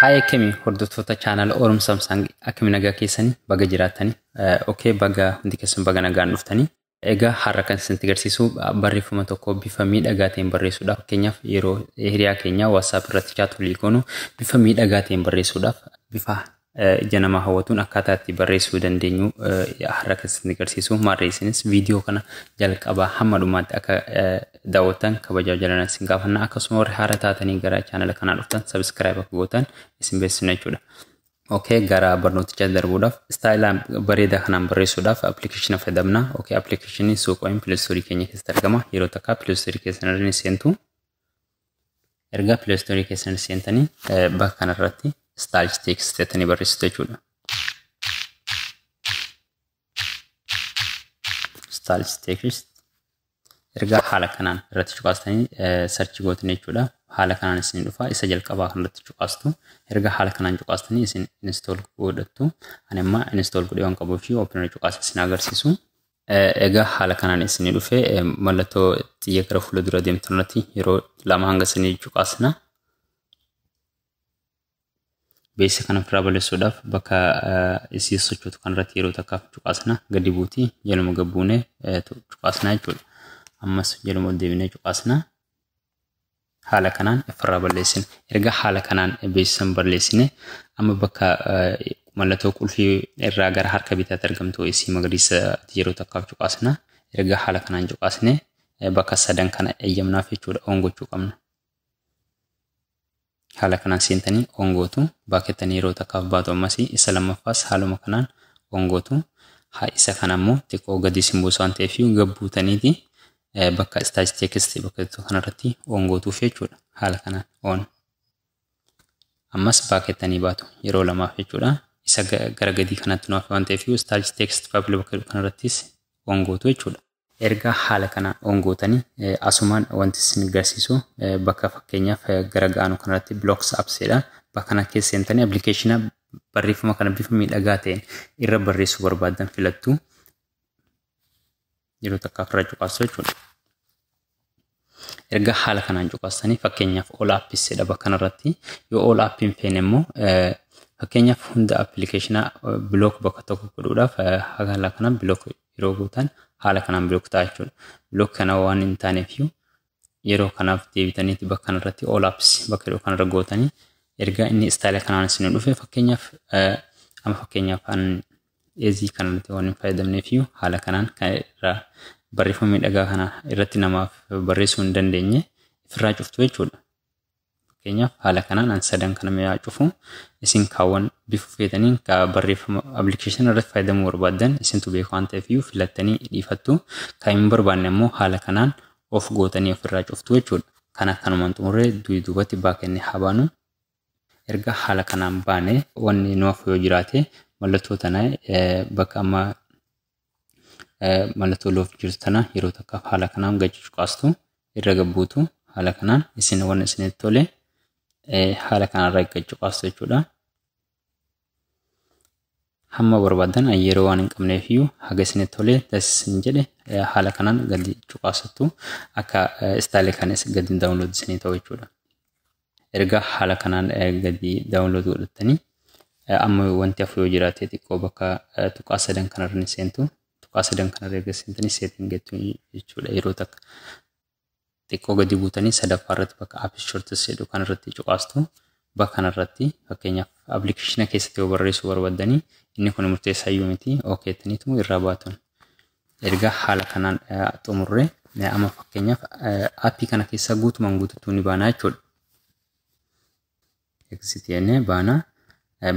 Haaya akkami hordoftoota chaanala Orum Samsung akkami nagaa keessanii baga jiraatanii okay baga hundi keessan baga nagaan dhuftanii Egaa har'a kan isinitti garsiisu barreeffama tokko bifa miidhagaa ta'een barreessuudhaaf fakkeenyaaf yeroo hiriyaa keenyaa WhatsApp irratti chaat walii goonu bifa miidhagaa ta'een barreessuudhaaf bifa ija namaa hawwatuun akkaataa itti barreessuu dandeenyu har'a kan isinitti garsiisu maarree isinis viidiyoo kana jalqabaa hamma dhumaatti akka daawwattan kabajaa jalaan isin gaafanna akkasuma warri haara taatanii gara chaanala kanaa dhuftan sabiskiraayib akka gootan isin beeksisna jechuudha. ok gara barnootichaatti darbuudhaaf istaayila bareedaa kanaan barreessuudhaaf appilikeeshina fayyadamna ok appilikeeshinii suuqoin pileestoorii keenya keessatti argama yeroo takka pileestoorii keessan irra ni seentu erga pileestoorii keessan seentanii bakka kanarratti istaayilchi teeksiteettanii barreessitu jechuudha. stals text erga haala kanaan irratti cuqaastanii sarchi gootanii jechuudha. Haala kanaan isin dhufa isa jalqabaa kan irratti cuqaastu erga haala kanaan cuqaastanii isin install godhattu ani amma install godhee waan qabuuf fi opener cuqaasa isin agarsiisu. Egaa haala kanaan isin dhufe mallattoo xiyya gara fuula dura deemtu irratti yeroo lama hanga isin cuqaasna. beeksisa kana ofirraa balleessuudhaaf bakka isii sochootu kanarratti yeroo takkaaf cuqaasna gadi buuti jaluma gabbuune cuqaasna jechuudha. Ammas jaluma deebinee cuqaasna. Haala kanaan ofirraa balleessina. Erga haala kanaan beeksisa balleessine amma bakka mallattoo qulfii irraa gara harka bitaatti argamtu isii magariisa yeroo takkaaf cuqaasna. Erga haala kanaan cuqaasne bakka sadan kana eeyyamnaaf jechuudha oon gochuu qabna. Haala kanaan seentanii on gootu. Back jettanii yeroo takkaaf baatu ammas isa lammaffaas haaluma kanaan on gootu. Haa isa kana ammoo xiqqoo gadi isin buusa waan ta'eef gad buutaniiti bakka stage text bakka jettu kanarratti on gootuuf jechuudha. Haala kanaan on. Ammas back jettanii baatu yeroo lamaaf jechuudha. Isa gara gadii kanatti nu hafe waan ta'eef stage text public bakka jedhu kanarrattis on gootu jechuudha. Erga haala kana on gootani asumaan wanti isin garsiisu bakka fakkeenyaaf gara ga'aanu kanarratti blocks apps jedha bakka kana keessa seentanii appilikeeshina barreeffama kana bifa miidhagaa ta'een irra barreessuu barbaaddan filattu yeroo takkaaf irra cuqaasu jechuudha. Erga haala kanaan cuqaastanii fakkeenyaaf all apps jedha bakka kanarratti yoo all app hin feene immoo fakkeenyaaf hunda appilikeeshinaa bilook bakka tokko godhuudhaaf haala kanaan bilook yeroo gootan haala kanaan bilook ta'a jechuudha. Bilook kana waan hin taaneef yeroo kanaaf deebitaniiti bakka kanarratti all apps bakka yeroo kanarra gootanii erga inni istaayila kanaan isin dhufe fakkeenyaaf amma fakkeenyaaf Eezii kanarratti waan hin fayyadamneefiyyuu haala kanaan kan irraa barreeffama miidhagaa kana irratti namaaf barreessuu hin dandeenye ifirraa cuftu jechuudha. Fakkeenyaaf haala kanaan an sadan kana mi'aa cufu isin kaawwan bifa feetaniin ka barreeffama appilikeeshinii irratti fayyadamuu barbaaddan isintu beeku waan ta'eefiyyuu filattanii dhiifattu kan hin barbaanne immoo haala kanaan of gootanii ofirraa cuftu jechuudha. Kana kanumaan xumurree duubatti baakennee haa baanu. Erga haala kanaan baane wanni nu hafu yoo jiraate mallattoo tana bakka amma mallattoo loof jirtu tana yeroo takkaaf haala kanaan gadi cuqaastu irra gabbuutu haala kanaan isin wanni isinitti tole haala kanarra gadi cuqaastu jechuudha. Hamma barbaadan yeroo waan hin qabneef iyyuu haga isinitti tole taasisin jedhe haala kanaan gadi cuqaasattu akka istaayilii kanis gadi daawunlood isinii ta'u jechuudha. Erga haala kanaan gadi download godhattanii amma wanti hafu yoo jiraate xiqqoo bakka tuqaa sadan kanarra ni seentu. Tuqaa sadan kanarra erga seentanii setting jettu jechuudha yeroo takka. Xiqqoo gadi buutanii sadaffaa irratti bakka apps shorts jedhu kanarratti cuqaastu. Bakka kanarratti fakkeenyaaf appilikeeshina keessatti yoo barreessuu barbaddanii inni kun murteessaa iyyuu miti ok jettaniitu irraa baatun. Erga haala kanaan xumurre amma fakkeenyaaf appii kana keessaa guutumaan guutuutti ni baanaa jechuudha. Exit jennee baana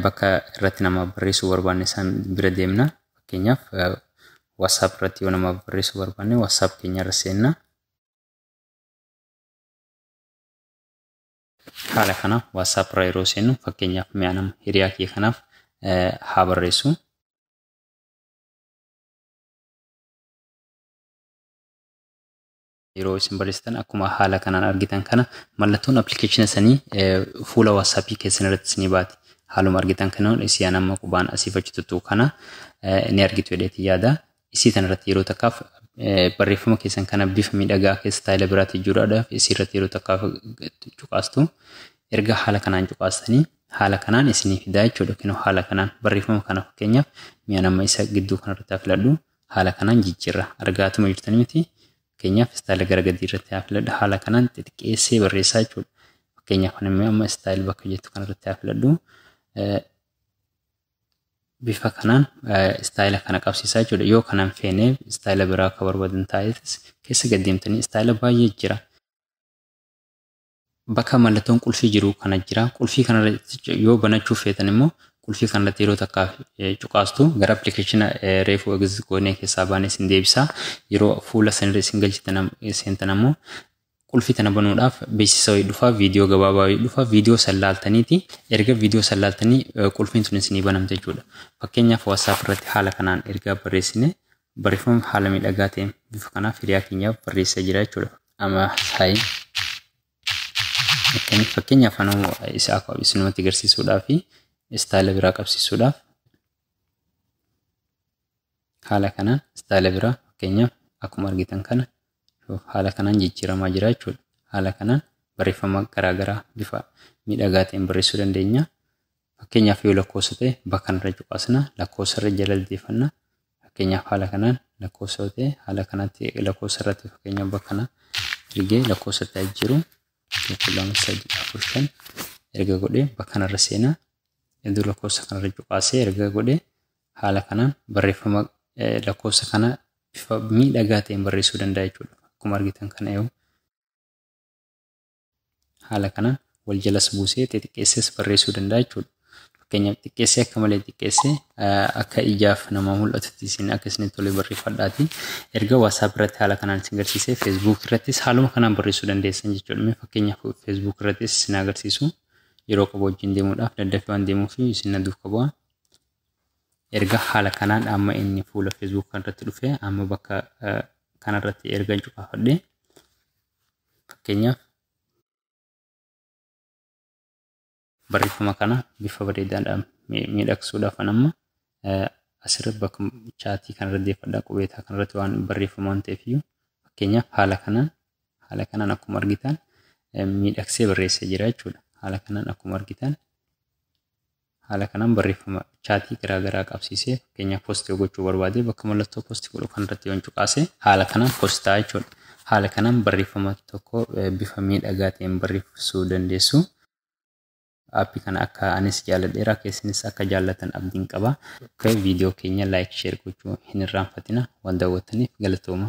bakka irratti nama barreessuu barbaanne san bira deemna. Fakkeenyaaf WhatsApp irratti yoo nama barreessuu barbaanne WhatsApp keenya irra seenna. Haala kana WhatsApp irra yeroo seennu fakkeenyaaf mi'a nama hiriyaa kee kanaaf haa barreessu. yeroo isin barreessitan akkuma haala kanaan argitan kana mallattoon appilikeeshina sanii fuula waatsaappii keessan irratti isinii baati. Haaluma argitan kana isiyaan amma qubaan asiif achi tuttuu kana ni argitu jedheeti yaada. Isii tan irratti yeroo takkaaf barreeffama keessan kana bifa miidhagaa keessa taayila biraatti jiraadhaaf isii irratti yeroo takkaaf cuqaastu erga haala kanaan cuqaastanii haala kanaan isinii fidaa jechuudha yookiin haala kanaan barreeffama kana fakkeenyaaf mi'aan amma isa gidduu kanarratti haa filadhu haala kanaan jijjiirra argaatuma jirtanii miti fakkeenyaaf istaayila gara gadii irratti haa filadhu haala kanaan xixiqqeessee barreessaa jechuudha fakkeenyaaf kan immoo amma istaayil bakka jettu kanarratti haa filadhu bifa kanaan istaayila kana qabsiisaa jechuudha yoo kanaan feenee istaayila biraa akka barbaadan taa'eetis keessa gaddeemtanii istaayila baay'ee jira Bakka mallattoon qulfii jiru kana jira. Qulfii kanarra yoo banachuuf feetan immoo qulfii kanarratti yeroo takkaaf cuqaastu gara appilikeeshina reefuu egzist goonee keessaa baanee isin deebisa. Yeroo fuula sanirra isin galchitan seentan ammoo qulfii tana banuudhaaf beeksisa wayii dhufa viidiyoo gabaabaa wayii dhufa viidiyoo san laaltaniiti erga viidiyoo san laaltanii qulfiin sun isinii banamte jechuudha. Fakkeenyaaf WhatsApp irratti haala kanaan ergaa barreessine barreeffama haala miidhagaa ta'een bifa kanaaf hiriyaa keenyaaf barreessaa jira jechuudha. Ama sayi. Akkamitti fakkeenyaaf anuu isa akka isinumatti agarsiisuudhaaf fi istaayila biraa qabsiisuudhaaf haala kanaan istaayila biraa fakkeenyaaf akkuma argitan kana haala kanaan jijjiiramaa jira jechuudha. Haala kanaan barreeffama garaagaraa bifa miidhagaa ta'een barreessuu dandeenya. Fakkeenyaaf yoo lakkoofsa ta'e bakka irra cuqaasna lakkoofsa irra jala deefanna Fakkeenyaaf haala kanaan lakkoofsa yoo ta'e haala kanatti lakkoofsa irratti fakkeenyaaf bakka kana ergee lakkoofsa itti ajjiru tokko lama sadii afur shan erga godhee bakka kanarra seenaa iddoo lakkoofsa kanarra cuqaasee erga godhee haala kanaan barreeffama lakkoofsa kana bifa miidhagaa ta'een barreessuu danda'a jechuudha. Akkuma argitan kana yoo Haala kanaan wal jalas buusee xixiqqeessees barreessuu danda'a jechuudha. Fakkeenyaaf xiqqeessee akka malee xiqqeessee akka ijaaf namaa mul'atutti isin akka isinitti tole barreeffadhaati. Erga WhatsApp irratti haala kanaan isin agarsiisee Facebook irrattis haaluma kanaan barreessuu dandeessan jechuudha. Mee fakkeenyaaf Facebook irrattis isin agarsiisu yeroo qabu wajjin deemuudhaaf daddafee waan deemuuf isin na duuka bu'a. Erga haala kanaan amma inni fuula Facebook kanarratti dhufe amma bakka kanarratti erga cuqaafadhee Fakkeenyaaf barreeffama kana bifa bareedaadhaan miidhagsuudhaaf an amma asirra bakka chaatii kanarra deeffadha qubeetaa kanarratti waan barreeffamu waan ta'eef iyyuu fakkeenyaaf haala kanaan haala kanaan akkuma argitan miidhagsee barreessee jira jechuudha. Haala kanaan akkuma argitan Haala kanaan barreeffama chaatii garaa garaa qabsiisee fakkeenyaaf post yoo gochuu barbaade bakka mallattoo post godhu kanarratti yoon cuqaase haala kanaan post ta'a jechuudha. Haala kanaan barreeffama tokko bifa miidhagaa ta'een barreessuu dandeessu. Aappii kana akka anis jaalladheera akka isinis akka jaallatan abdiin qaba. Viidiyoo keenya laayik sheer gochuu hin irraanfatina. Waan daawwattaniif galatooma.